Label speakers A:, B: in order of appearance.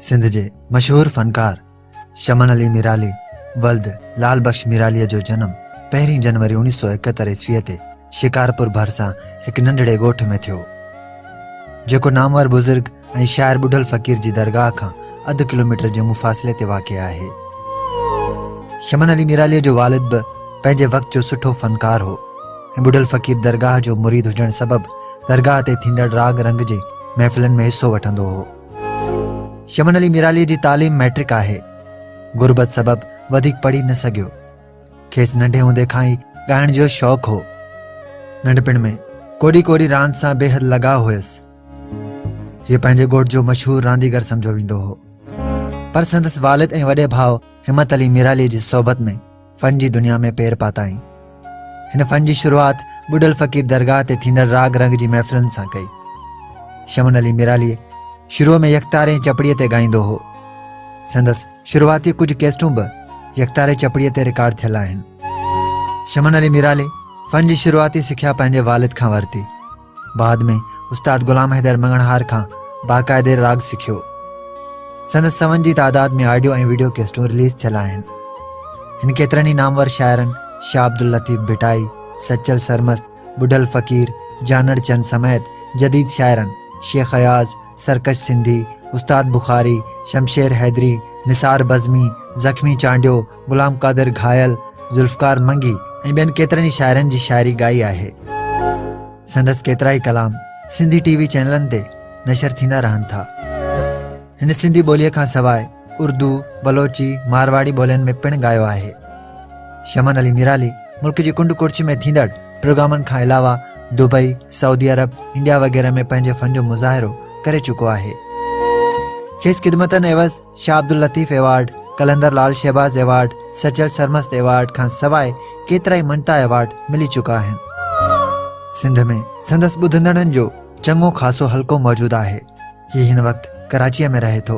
A: سنڌ جي مشهور فنڪار شمن علي ميرالي ولد لال بخش ميرالي جو جنم پهرين جنوري اڻيهه سو اڪهتر عيسوي تي شڪارپور ڀرسان هڪ ننڍڙي ڳوٺ ۾ ٿيو جيڪو نامور بزرگ ۽ شاعر ٻڍل فقير جي درگاهه کان اڌ ڪلوميٽر جي مفاصلي تي واقع آهي. شمن علي ميراليء جو والد به پنهنجي وقت جو سٺو فنڪار هو ۽ ٻڍل فقير درگاهه جو مريد هجڻ سبب درگاهه تي ٿيندڙ راڳ رنگ جي محفلن ۾ حصو وٺندو هو. شمن علي ميراليء جي تعليم مئٽرڪ آهي. غربت سبب وڌيڪ پڙهي نه سگهيو. کيس ننڍي هوندي کان ئي ڳائڻ جو شوق هو. ننڍپڻ ۾ ڪوڏي ڪوڏي راند سان بيحد لڳاء هيس. هي پنهنجي ڳوٺ جو مشهور رانديگر سمجهيو ويندو هو پر سندس والد ۽ وڏي ڀاء همت علي ميرالي جي صحبت ۾ فن جي دنيا ۾ پير پاتائين هن فن جي شروعات ٻڏل فقير درگاهه تي ٿيندڙ راڳ رنگ جي محفلن سان ڪئي شمن علي ميرالي شروع ۾ يڪتار ۽ چپڙي تي ڳائيندو هو سندس شروعاتي ڪجهه ڪيسٽون به يڪتاري چپڙي تي رڪارڊ ٿيل آهن شمن علي ميرالي فن جي شروعاتي سکيا پنهنجي والد کان ورتي بعد ۾ استاد غلام حيدر مڱڻهار کان باقاعدي راڳ سکيو. سندس سون جي تعداد ۾ آڊيو ۽ ويڊيو ڪيسٽون رليز ٿيل آهن. هن ڪيترن ئي نامور شاعرن شاهه عبداللطيف ڀٽائي، سچل سرمست، ٻڍل فقير، جانڙ چند سميت جديد شاعرن شيخ اياز، سرڪش سنڌي، استاد بخاري، شمشير حيدري، نثار بزمي، زخمي چانڊيو، غلام قادر گهايل، ذوالفقار منگي ۽ ٻين ڪيترن ئي شاعرن جي شاعري ڳائي آهي. سندس ڪيترائي ڪلام سنڌي ٽي وي چينلن تي نشر ٿيندا رهن ٿا. هن سنڌي ٻوليء کان سواء اردو، بلوچي، مارواڙي ٻولين ۾ پڻ ڳايو آهي. شمن علي ميرالي ملڪ جي ڪنڊ ڪڙڇ ۾ ٿيندڙ پروگرامن کان علاوه دبئي، سعودي عرب، انڊيا وغيره ۾ پنهنجي فن جو مظاهرو ڪري چڪو آهي. کيس خدمتن عيوض Shah Abdul Latif award, Qalandar Lal Shahbaz award, Sachal Sarmast award کان سواء ڪيترائي مڃتا ايوارڊ ملي چڪا آهن. سنڌ ۾ سندس ٻڌندڙن جو چڱو خاصو حلقو موجود آهي. هي هن وقت ڪراچيء ۾ رهي ٿو.